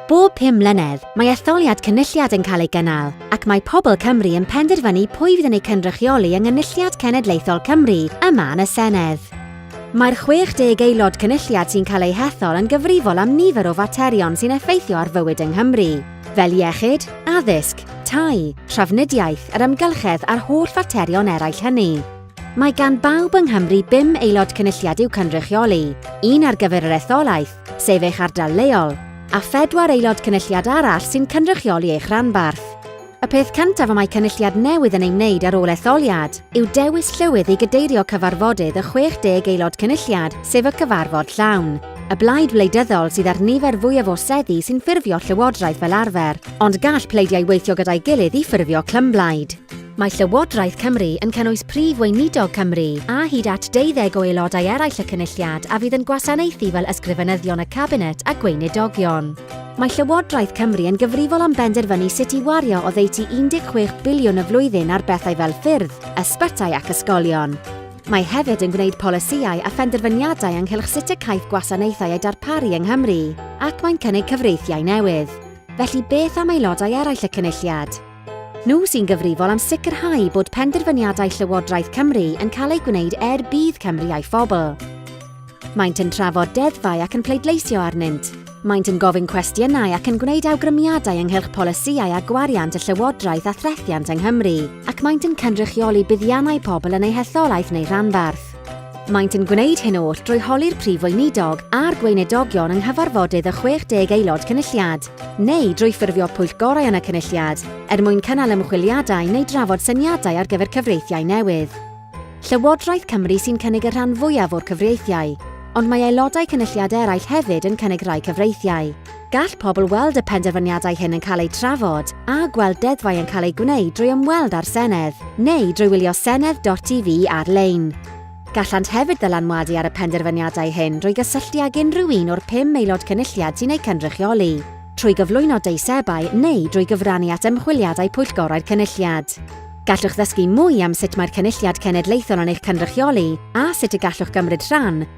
Bob pum mlynedd, mae etholiad cynulliad yn cael ei gynnal, ac mae pobl Cymru yn penderfynu pwy fydd yn eu cynrychioli yng Nghynulliad Cenedlaethol Cymru yma yn y Senedd. Mae'r 60 aelod cynulliad sy'n cael eu hethol yn gyfrifol am nifer o faterion sy'n effeithio ar fywyd yng Nghymru, fel iechyd, addysg, tai, trafnidiaeth, yr amgylchedd a'r holl faterion eraill hynny. Mae gan bawb yng Nghymru bum aelod cynulliad i'w cynrychioli, un ar gyfer yr etholaeth, sef eich ardal leol, a phedwar aelod cynulliad arall sy'n cynrychioli eich rhanbarth. Y peth cyntaf y mae cynulliad newydd yn ei wneud ar ôl etholiad yw dewis llywydd i gadeirio cyfarfodydd y 60 aelod cynulliad, sef y cyfarfod llawn. Y blaid wleidyddol sydd â'r nifer fwyaf o seddi sy'n ffurfio llywodraeth fel arfer, ond gall pleidiau weithio gyda'i gilydd i ffurfio clymblaid. Mae Llywodraeth Cymru yn cynnwys Prif Weinidog Cymru a hyd at deuddeg o aelodau eraill y Cynulliad a fydd yn gwasanaethu fel Ysgrifenyddion y Cabinet a Gweinidogion. Mae Llywodraeth Cymru yn gyfrifol am benderfynu sut i wario oddeutu 16 biliwn y flwyddyn ar bethau fel ffyrdd, ysbytai ac ysgolion. Mae hefyd yn gwneud polisïau a phenderfyniadau ynghylch sut y caiff gwasanaethau eu darparu yng Nghymru ac mae'n cynnig cyfreithiau newydd. Felly beth am aelodau eraill y Cynulliad? Nhw sy'n gyfrifol am sicrhau bod penderfyniadau Llywodraeth Cymru yn cael eu gwneud er budd Cymru a'i phobl. Maent yn trafod deddfau ac yn pleidleisio arnynt. Maent yn gofyn cwestiynau ac yn gwneud awgrymiadau ynghylch polisïau a gwariant y Llywodraeth a threthiant yng Nghymru, ac maent yn cynrychioli buddiannau pobl yn eu hetholaeth neu rhanbarth. Maent yn gwneud hyn oll drwy holi'r Prif Weinidog a'r Gweinedogion yng nghyfarfodydd y 60 Aelod Cynulliad, neu drwy ffurfio pwyllgorau yn y Cynulliad er mwyn cynnal ymchwiliadau neu drafod syniadau ar gyfer cyfreithiau newydd. Llywodraeth Cymru sy'n cynnig y rhan fwyaf o'r cyfreithiau, ond mae Aelodau Cynulliad eraill hefyd yn cynnig rhai cyfreithiau. Gall pobl weld y penderfyniadau hyn yn cael eu trafod a gweld deddfau yn cael eu gwneud drwy ymweld â'r Senedd neu drwy wylio Senedd.tv ar-lein. Gallant hefyd ddylanwadu ar y penderfyniadau hyn drwy gysylltu ag unrhyw un o'r pum Aelod Cynulliad sy'n eu cynrychioli, trwy gyflwyno deisebau neu drwy gyfrannu at ymchwiliadau Pwyllgorau'r Cynulliad. Gallwch ddysgu mwy am sut mae'r Cynulliad Cenedlaethol yn eich cynrychioli a sut y gallwch gymryd rhan